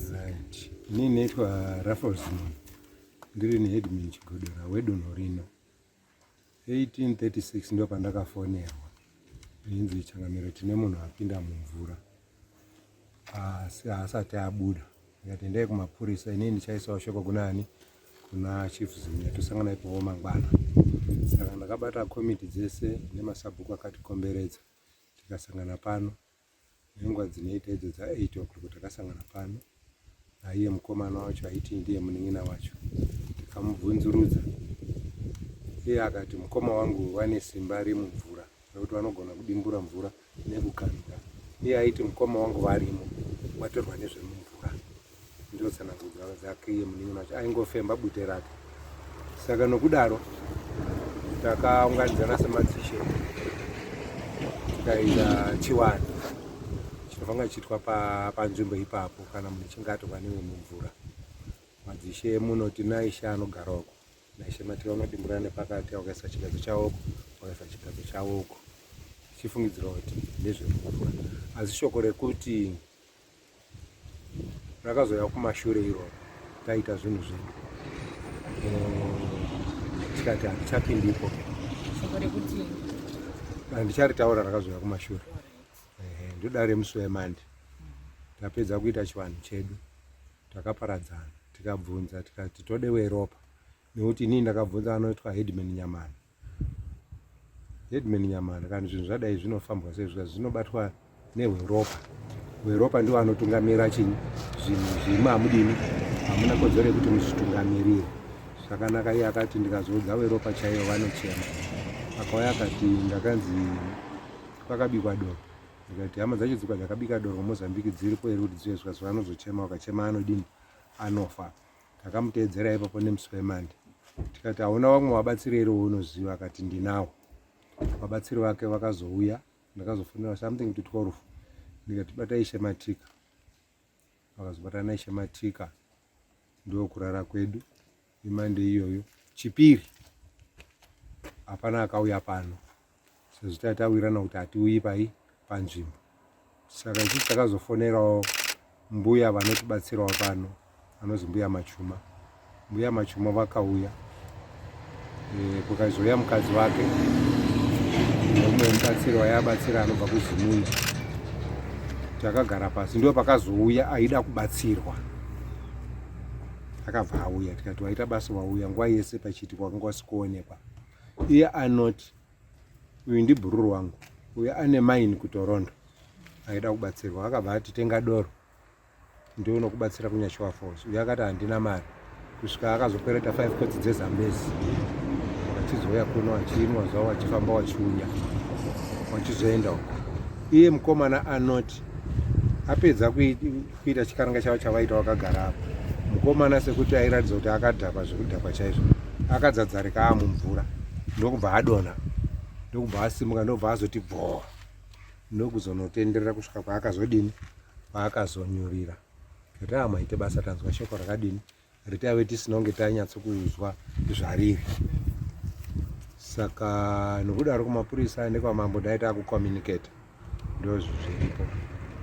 Right. Ini naitwa Rafael Simon. Ndiri ni headman Chigodora wedunhu rino. 1836 ndo pandakafonerwa. Inzi changamiro tine munhu apinda mumvura. Asi haasati abuda. Ndikati ndai kumapurisa ini ndichaisawo shoko kuna ani? Kuna Chief Zinya tosangana ipawo mangwana. Saka ndakabata komiti dzese nemasabhuku akatikomberedza tikasangana pano. Nenguva dzinoita idzo dza 8 o'clock takasangana pano naiye mukomana wacho aiti ndiye munin'ina wacho tikamubvunzurudza iye akati mukoma wangu vane simba remumvura rekuti vanogona kudimbura mvura nekukanura iye aiti mukoma wangu varimo watorwa nezvemumvura ndotsanango dzavo dzake iye munin'ina wacho aingofemba bute rake saka nokudaro takaunganidzana semadzishe tikaita chiwani chinofanga chiitwa panzvimbo ipapo kana munhu chinge atorwa newe mumvura madzishe emuno tinaishe anogara uko naishe mati vanodimbura nepakati akaisa chigadzo chaoko akaisa chigadzo chaoko chifungidzira kuti ndezvemumvura asi shoko rekuti rakazouya kumashure iro taita zvinhu zvedu tikati hatichapindipo handicharitaura rakazouya kumashure ndoda remusi wemandi tapedza kuita chivanhu chedu takaparadzana tikabvunza tikati tode weropa nekuti inini ndakabvunza anoitwa headman nyamana Headman Nyamana kana zvinhu zvadai zvinofambwa sei zvika zvinobatwa nehweropa hweropa ndiwo anotungamira chinyi zvinhu zvimo hamudini hamuna kodzero yekuti muzvitungamirire zvakanaka iye akati ndikazoudza weropa chaiyo vanochema akauya akati ndakanzi kwakabikwa doro ndikati hama dzacho dzikwa dzakabika doro mozambiki dziripo here kuti dzivezvika zvavanozochema wakachema anodini anofa takamuteedzera ipapo nemusi wemande tikati hauna vamwe wabatsiri ere waunoziva akati ndinawo vabatsiri vake vakazouya ndakazofonera something to 12 ndikati batai shematika vakazobatana ishematika ndokurara kwedu imande iyoyo chipiri hapana akauya pano sezvo tatawirana kuti hatiuyi pai panzvimbo saka isu takazofonerawo mbuya vanotibatsirawo pano vanozi mbuya machuma mbuya machuma vakauya e, kukazouya mukadzi wake neumwe mubatsiri wayabatsira anobva kuzimuna takagara pasi ndo pakazouya aida kubatsirwa akabva auya tikati waita basa wauya nguva yese pachiitikwa kanga wasikuonekwa iye anoti uyu ndibhururu wangu uyu ane maini kutorondo aida kubatsirwa akabva ati tenga doro ndiwe unokubatsira kunyashuwa falls uye akati handina mari kusvika akazokwereta five kotsi dzezambezi achizouya kuno achiinwa zvavo achifamba wachiunya wachizoenda uko iye mukomana anoti apedza kuita kuita chikaranga chavo chavaita wakagara apo mukomana sekuti airatidza kuti akadhakwa zvekudhakwa chaizvo akadzadzarika amumvura ndokubva adona ndokubva asimuka ndokubva azoti bvoo ndokuzonotenderera kusvika kwaakazodini kwaakazonyurira kuti amaite basa tanzwa shoko rakadini ritave tisinonge tanyatso kuzwa zvariri saka nokudaro kumapurisa nekwamambo ndaita akucommunicate ndozvo zviripo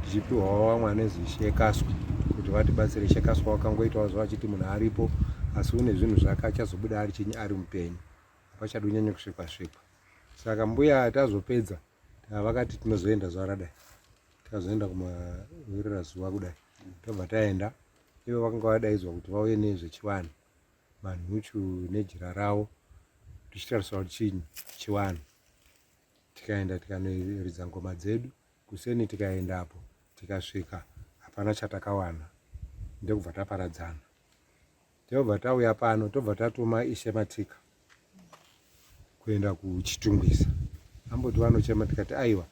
tichipiwawo vamwe anonzi shekaswa kuti vatibatsire shekaswa wakangoitawo zvavachiti munhu aripo asi une zvinhu zvake achazobuda ari chinyi ari mupenyu hapachadi unyanye kusvikwa svikwa saka mbuya tazopedza vakati tinozoenda zuva radai tikazoenda kumawirira zuva kudai tobva taenda ivo vakanga vadaidzwa kuti vauye nezvechivanhu manhuchu nejira ravo tichitariswa kuti chinyi chivanhu tikaenda tikanoridza ngoma dzedu kuseni tikaendapo tikasvika hapana chatakawana ndokubva taparadzana tobva tauya pano tobva tatuma ishe matika kuenda kuchitungwiza amboti vanochema tikati aiwa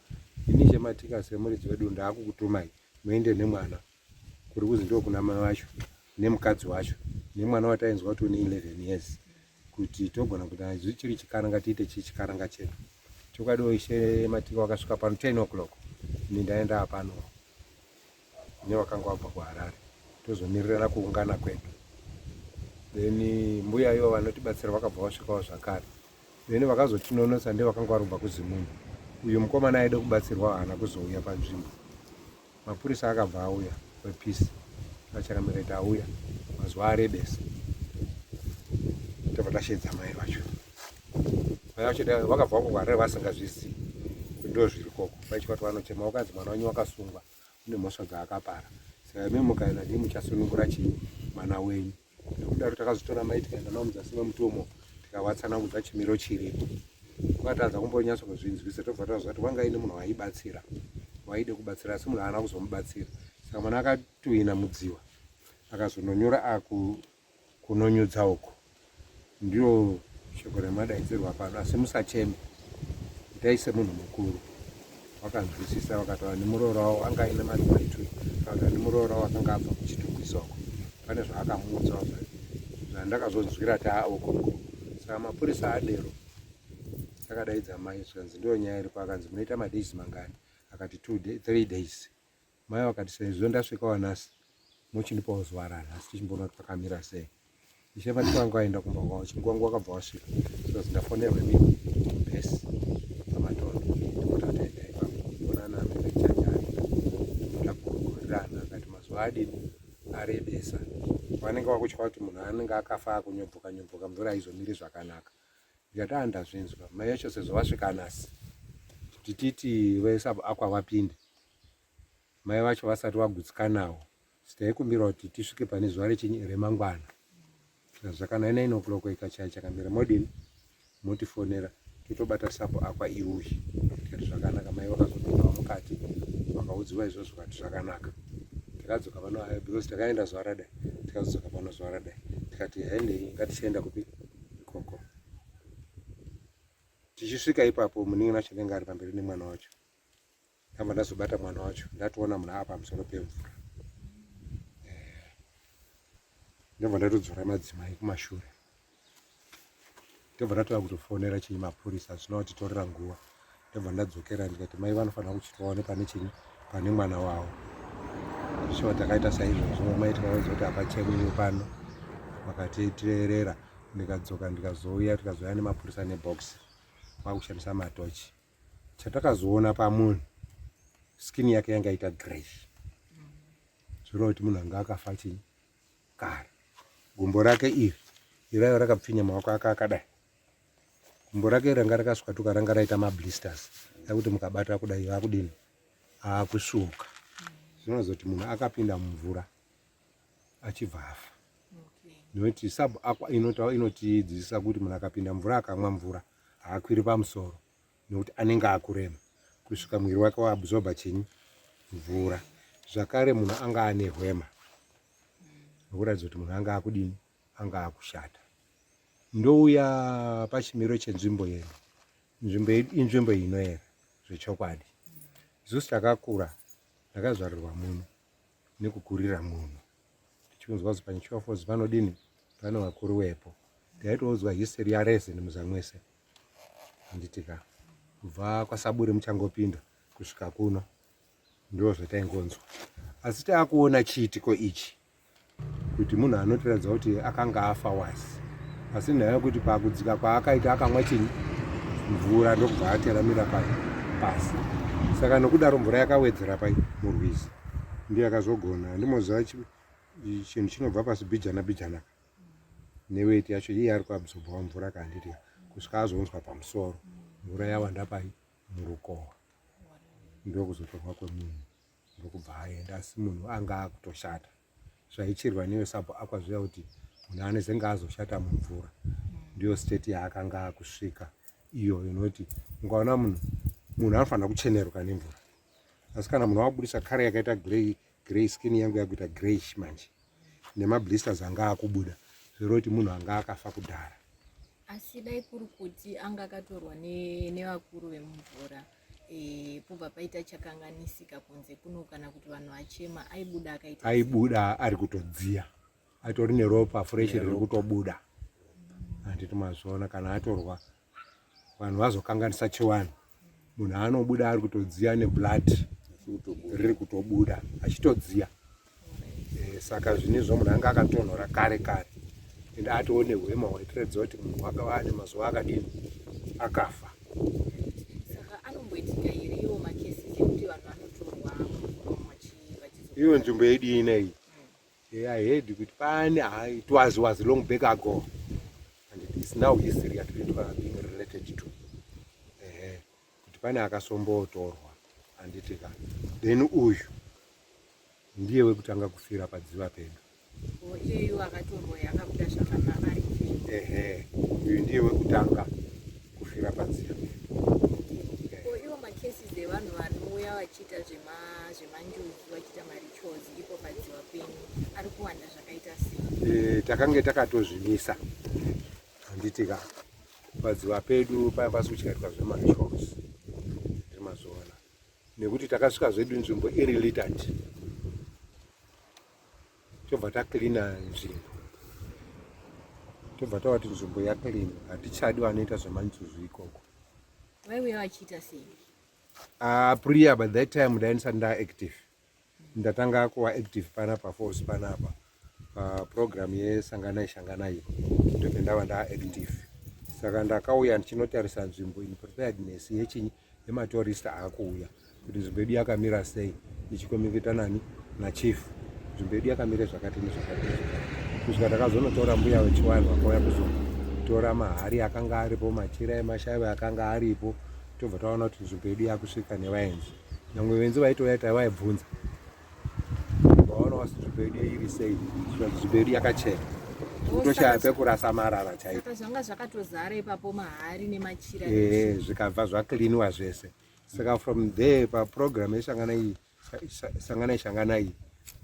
ini chema tikasemuridzi wedu ndaakukutumai muende nemwana kuri kuzi ndo kuna mai wacho nemukadzi wacho nemwana watainzwa kuti une 11 years kuti togona kuti azi chiri chikaranga tiite chichikaranga chedu chokwadi oishe matika wakasvika pano 10 o'clock ini ndaenda apano nevakanga vabva kuharare tozomirirana kuungana kwedu then mbuya ivo vanotibatsira vakabva vasvikawo zvakare then vakazotinonotsa ndevakanga varubva kuzimunhu uyu mukomana aida kubatsirwa haana kuzouya panzvimbo mapurisa akabva auya wepeace vacharamireta auya mazuva arebesa tobva tasheedza mai vacho mai vacho vakabva vakungwarira vasingazvisi ndo zviri koko vaichikati vanochema wakanzi mwana wenyu wakasungwa une mhosva dzaakapara saka imi mukaenda ndiye muchasunungura chii mwana wenyu nekudaro takazotora mai tikaenda navo mudzasi memutomo tikavatsanangudza chimiro chiripo vakatadza kumbonyatso kuzvinzwisa tobva taziva kuti vanga ine munhu waibatsira waide kubatsira asi munhu haana kuzomubatsira saka mwana akatuhina mudziwa akazononyora aku Kunonyudza uku ndiro shoko ramadaidzirwa pano, asi musacheme, itai semunhu mukuru. Wakanzwisisa vakataura nemuroora wavo anga aine mari maitwi kutaura nemuroora wavo akanga abva kuchitungwiza uko pane zvaakamuudzawo zvandakazonzwira taa uko mukuru saka mapurisa adero akadaidza mai zvikanzi ndiyo nyaya iripo akanzi munoita madays mangani akati two day, three days Mai vakati sezvo ndasvikawo nhasi muchindipawo zuva ranhasi tichimboona kuti pakamira sei. Ishe vati kwanga waenda kumba kwavo chinguva nguva wakabva wasvika because ndafonerwe mi bhesi pamatondo ndikuti ataenda ipapo onana amekuchachana ndoda kukurirana akati mazuva adini arebesa vanenge vakutya kuti munhu anenge akafa akunyobvoka nyobvoka mvura aizomiri zvakanaka ndikati a ndazvinzwa mai yacho sezvo vasvika nhasi tititi vesab akwa vapinde mai vacho vasati vagutsikanawo taikumbira kuti tisvike pane zuva remangwana zvakana ina ino kuloko ikachaya chakamira modini motifonera totobata sapo akwa iuyi tikati zvakanaka mai vakazopindawo mukati vakaudziwa izvozvo kati zvakanaka tikadzoka pano eh, because takaenda zuva radai tikazodzoka pano zuva radai tikati hende ngatisaenda kupi ikoko tichisvika ipapo muningi nacho anenge ari pamberi nemwana wacho ndabva ndazobata mwana wacho ndatoona munhu ava pamusoro pemvura eh, ndobva ndatodzora madzimai kumashure ndobva ndatova kutofonera chinyi mapurisa hazvina kutitorera nguva ndobva ndadzokera ndikati mai vanofanira kuchitowa nepane chinyi pane mwana wavo zvichiva takaita saizvozvo mai tikavaudza kuti hapachemwiwi pano vakatiteerera ndikadzoka ndikazouya tikazouya nemapurisa nebox kwakushandisa matochi chatakazoona pamunhu skin yake yanga ita grash zvirova kuti munhu anga akafa chii kare gumbo rake iri iraiva rakapfinya maoko ake akadai gumbo rake iri ranga rakaswatuka ranga raita mablisters akuti mukabata kudai vakudini akusvuka zvinozoti munhu akapinda mumvura achibva afa nokuti sub aqua inotidzidzisa kuti munhu akapinda mvura akamwa mvura haakwiri pamusoro nekuti anenge akurema kusvika mwiri wake waabsorba chinyi mvura zvakare munhu anga ane hwema nokuratidza kuti munhu anga akudini anga akushata ndouya pachimiro chenzvimbo yedu nzvimbo yedu inzvimbo inoera zvechokwadi zusi takakura ndakazvarirwa muno nekukurira munhu tichiunzwa kuzi pachiwa fozi panodini pane vakuru wepo taitoudzwa history yaresin muzamwese handitika kubva kwasaburi muchangopinda kusvika kuno ndoo zvataingonzwa asi taakuona chiitiko ichi kuti munhu anotiratidza kuti akanga afa wasi asi nhayo yekuti pakudzika kwaakaita akamwa chini mvura ndokubva ateramira pasi saka nokudaro mvura yakawedzera pai murwizi ndiye akazogona handimoziva chinhu chinobva pasi bijana bijana neweti yacho iye ari kuabzobhawa mvura akaandiria kusvika azonzwa pamusoro mvura yawanda pai murukohwa ndokuzotorwa kwemunhu ndokubva aenda asi munhu anga akutoshata zvaichirwa newe sabo akwazviya kuti munhu anezenge azoshata mumvura ndiyo state yaakanga akusvika iyoyo noti ungaona munhu munhu anofanira kucheneruka nemvura asi kana munhu wabudisa kare yakaita grey grey skin yangu yakuita greyish manje nemablisters anga akubuda zvoreva kuti munhu anga akafa kudhara asi dai kuri kuti anga akatorwa nevakuru vemumvura e, pobva paita chakanganisika kunze kuno kana kuti vanhu vachema aibuda akaita aibuda ari kutodziya atori neropa fresh riri kutobuda handiti mazviona kana atorwa vanhu vazokanganisa chivanhu munhu anobuda ari kutodziya neblood riri kutobuda achitodziya eh, saka zvine zvo munhu anga akatonhora kare kare ende atiwo nehwema waitiredza kuti munhu wakava ane mazuva akadini akafa iyo nzvimbo yedu inei Yeah, I heard kuti pane ah, it was was long back ago and it is now history yatiri being related to ehe kuti pane akasombotorwa anditika then uyu ndiye wekutanga kufira padziva pedu oh, iyeyu akatorwa yakabuda zvakanaka ehe uyu ndiye wekutanga kufira padziva pedu oh, ivo macases evanhu vanouya vachiita zvemanjuzi vachiita mari Eh, takange takatozvimisa handiti ka padziva pedu paya pasi kuchaitwa zvemachos zvemazoona nekuti takasvika zvedu nzvimbo iri litat tobva taklina nzvimbo tobva tava kuti nzvimbo yaklina hatichadi vanoita zvemanjuzu ikoko vaiuya vachiita sei ah, priya by that time ndainisa ndaa active ndatanga kuva active pana pafos panapa paprogram yesanganai shanganai ndobe ndava ndaa active saka ndakauya ndichinotarisa nzvimbo in preparedness yechinyi yematorist aakuuya kuti nzvimbo yedu yakamira sei ndichikomikita nani nachief nzvimbo yedu yakamira zvakati nezvakati kusvika takazonotora mbuya wechiwanhu vakauya kuzotora mahari akanga aripo machira emashaiwe akanga aripo tobva taona kuti nzvimbo yedu yakusvika nevaenzi nyangwe venzi vaitouya tavaibvunza vaona wasi nzvimbo yedu iri sei nzvimbo yedu yakachena kutoshaya pekurasa marara chaipo zvanga zvakatozara ipapo mahari nemachira ee zvikabva zvakiliniwa zvese saka from there paprogramu yesangana iyi sangana ishangana iyi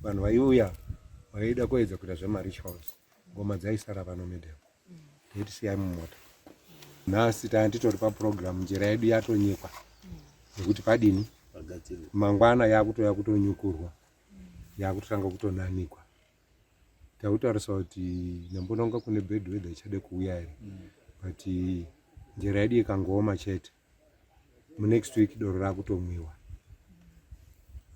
vanhu vaiuya vaida kuedza kuita zvemarituals ngoma dzaisara pano medem Ndiri siyai mumota. Nhasi tanga titori paprogram njira yedu yatonyekwa nekuti padini mangwana yakutouya kutonyukurwa yakutotanga kutonanikwa takutarisa kuti nambononga kune bed weather ichade kuuya here but njira yedu ikangooma chete munext week doro rakutomwiwa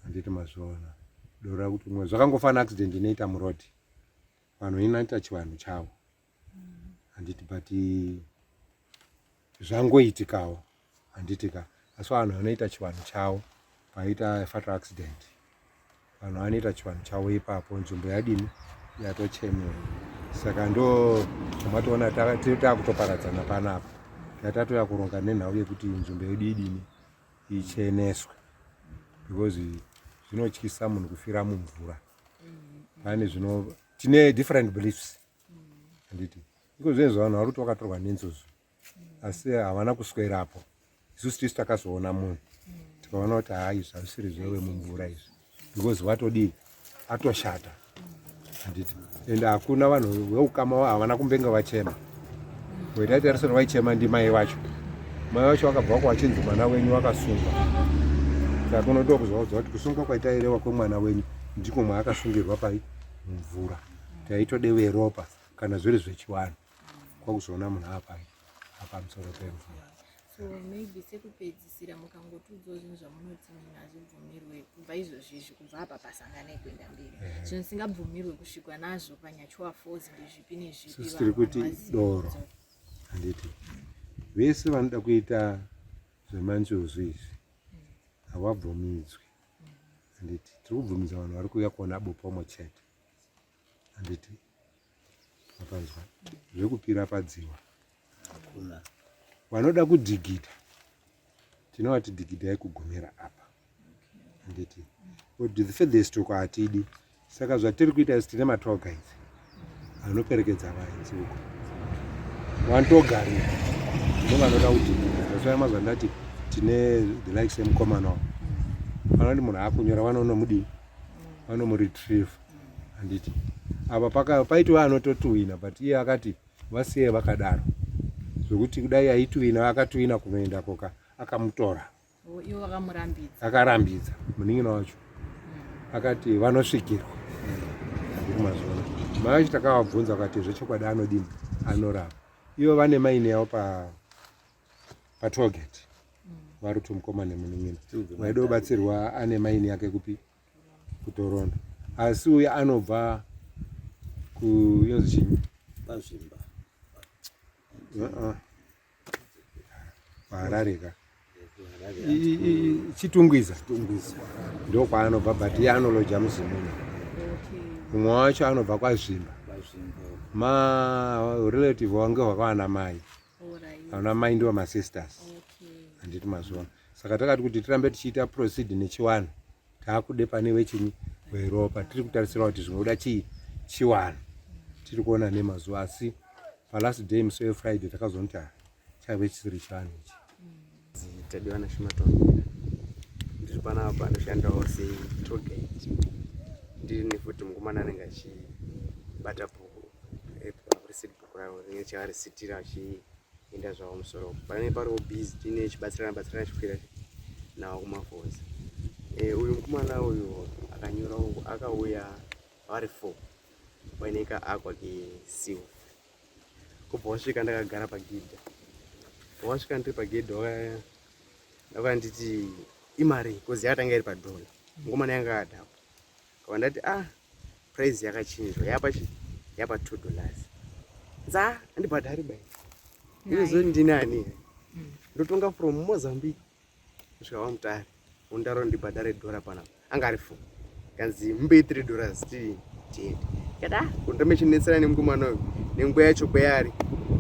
handiti mazviona doro rakutomwiwa zvakangofanira accident inoita muroad vanhu inoita chivanhu chavo handiti but zvangoitikawo handiti ka asi vanhu vanoita chivanhu chavo paita fatal accident vanhu vanoita chivanhu chavo ipapo nzvimbo yadini yatochemera saka ndo zvamatoona takutoparadzana panapa yatatoya kuronga nenhau yekuti nzvimbo yedu idini icheneswe because zvinotyisa munhu kufira mumvura pane zvino tine different beliefs handiti iko zvinezvo vanhu vari kuti wakatorwa nenzuzu asi havana kuswerapo isusu tisu takazoona munhu tikaona kuti haa izvi hazvisiri zvewe mumvura izvi because watodii atoshata handiti and hakuna vanhu veukama havana kumbenge vachema Wenda tarisana waichema ndimai wacho. Mai wacho wakabva wako wachinzi mwana wenyu wakasungwa. Saka unotoa kuzvaudza kuti kusungwa kwaita irewa kwemwana wenyu ndiko mwaakasungirwa pai mvura. Taitodewe ropa kana zviri zvechivanhu kwakuzoona munhu apa apa musoro pemvura. So maybe sekupedzi Sira mukangotiudzawo zvinhu zvamunoti mimi hazvibvumirwe kubva izvozvizvi kubva apa pasanganai kuenda mberi eh. zvinhu zvisingabvumirwe kusvikwa nazvo panyachuwa fozi ndezvipi nezvipi tiri kuti doro handiti vese vanoda kuita zvemanjuzu izvi havabvumidzwi handiti tiri kubvumidza vanhu vari kuuya kuona bopomo chete handiti apanzwa zvekupira padziwa hakuna vanoda kudhigidha tinovati dhigidhai kugumira apa handiti but the furthest uko hatidi saka zvatiri kuita isi tine matour guides anoperekedza vaenzi uko vanotogarira no vanoda kudhigidha zvasvaya mazva ndati tine the likes emukomana wavo vanoti munhu akunyora vanonomudii vanomuretrieve handiti apa paitova anototuhwina but iye akati vasiye vakadaro zvekuti kudai aituhwina akatuhwina kunoenda koka akamutora akarambidza munin'ina wacho hmm. akati vanosvikirwa mazvona mai vacho takavabvunza akati zvechokwadi anodini anorapa ivo vane maine yavo patoget pa hmm. vari kuti mukoma nemunin'ina waida kubatsirwa ane maine yake kupi kutoronda asi uye anobva kuyonzi chinyi pazvimba uh-uh. kuharare ka chitungwiza ndokwaanobva but iye anoloja muzimuna mumwe wacho anobva kwazvimba marelative wange hwakawana mai ana mai ndiwo masisters handiti mazviona saka takati kuti tirambe tichiita proceed nechiwanhu taakude pane vechinyi weropa tiri kutarisira kuti zvinoda chii chiwanhu tiri kuona nemazuva asi palast day musi wefriday takazonoti chave chisiri chivanhu ichi Tadiwa na Shimatonga ndiri panapa ndoshandawo setour guide ndiri nefuti mukomana anenge achibata bhuku arisiti eh, bhuku ravo rinenge chavarisiitira achienda zvavo musoro panenge pariwo busy tiine chibatsirana batsirana chikwira nawo kumafoza eh, uyu mukomana uyu akanyorawo akauya vari four waineka akwa kesiwa kubva wasvika ndakagara pagedha wasvika ndiri pagedha wakanditi imari kozi yakatanga iri padhona ngomana yanga akadhapa kava ndati ah price yakachinjwa yapa chi yapa two dollars dza andibhadhari bai inozoti ndinani ndotonga from mozambique kusvika vamutare undaro ndibhadhare dhora pana anga ari fo kanzi mbe three dollars tii tiende kada kundamechinetsera nemukomana uyu nenguva yacho kweari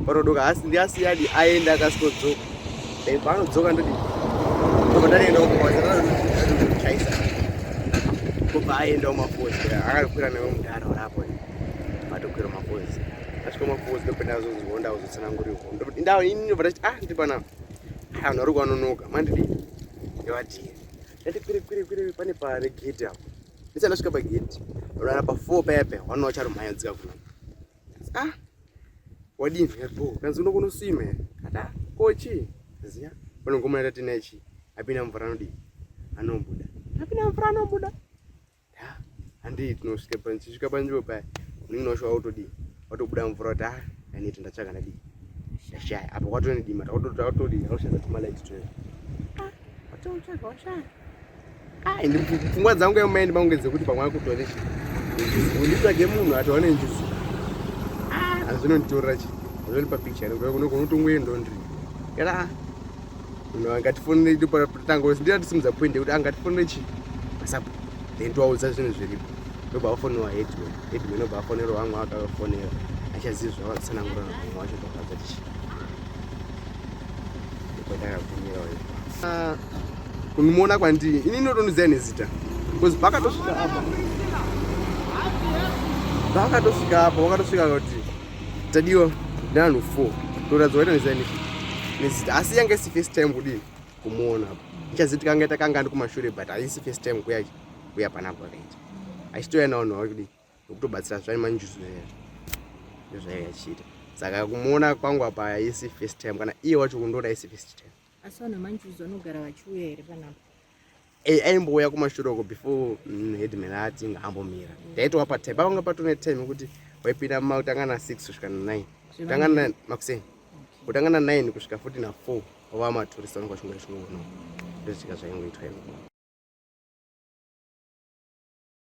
vanodoka hasi ndiasiyadi aende akaswodzoka dai paanodzoka ndoti ndobadarienda ukoaisa kobva aenda umafozi akarikwira newe mudhara orapo matokwira mafozi asvika mafozi ndopenda azozondauzotsananguriwo ndobva ndati ah ndipana Anhu ari kwanonoka mandidi ndivatiye ndati kwiri kwiri kwiri pane pane gate apo ndisana svika pagate rara pa four paya paya wana wacharumhanya dzika kuna ah wadini hapo kanzi unogona kusima here kata kochi ziya vanongomana tati naichi apinda mvura anodii anombuda apinda mvura anombuda handii tinosvika panosvika panzvimbo paya unenge unosvika wautodii watobuda mvura kuti ah aneti ndatsvaka ndadii ndashaya apa kwatove nedima takutodii aushaya tumalight twee watoutsvaga washaya ai pfungwa dzangu yamaindi mangu ngedzekuti pamwe akutore chi nditsvage munhu atoone njuzu ah, azvinonditorera chi azvonipa picture nekunokunotongoendondri yala munhu angatifonere ndopatanga kuti ndatisimudza point yekuti angatifonere chi masapo then toaudza zvinhu zviripo ndobva afonerwa headman headman obva afonerwa vamwe vakafonera achazivi zvavakatsanangura vamwe vacho zvakaza tichi ndopatakafonera wayo ah, kumuona kwandii ini ndotoniziva nezita because pakatosvika apa pakatosvika apa wakatosvika kuti Tadiwa nano 4 ndoratidza waita nezani nezita asi yanga isi first time kudii kumuona apo ichazitika anga takanga ndi kumashure but haisi first time kuya kuya panapo akaita achitouya nawo nawo kudii nokutobatsira zvani manjusu zvaya ndozvaive achiita saka kumuona kwangu apa haisi first time kana iye wacho kundoda isi first time asi vanhu manjusu vanogara vachiuya here panapo Eh, aimbouya kumashure uko before mm, headman ati inga ambomira ndaitova patime pavanga patone time yekuti waipinda muma kutanga na six kusvika na nine kutanga na makuseni kutanga na nine kusvika futi na four wava maturisa unenge wachingoya chingoona ndozvika zvaingoitwa ivoo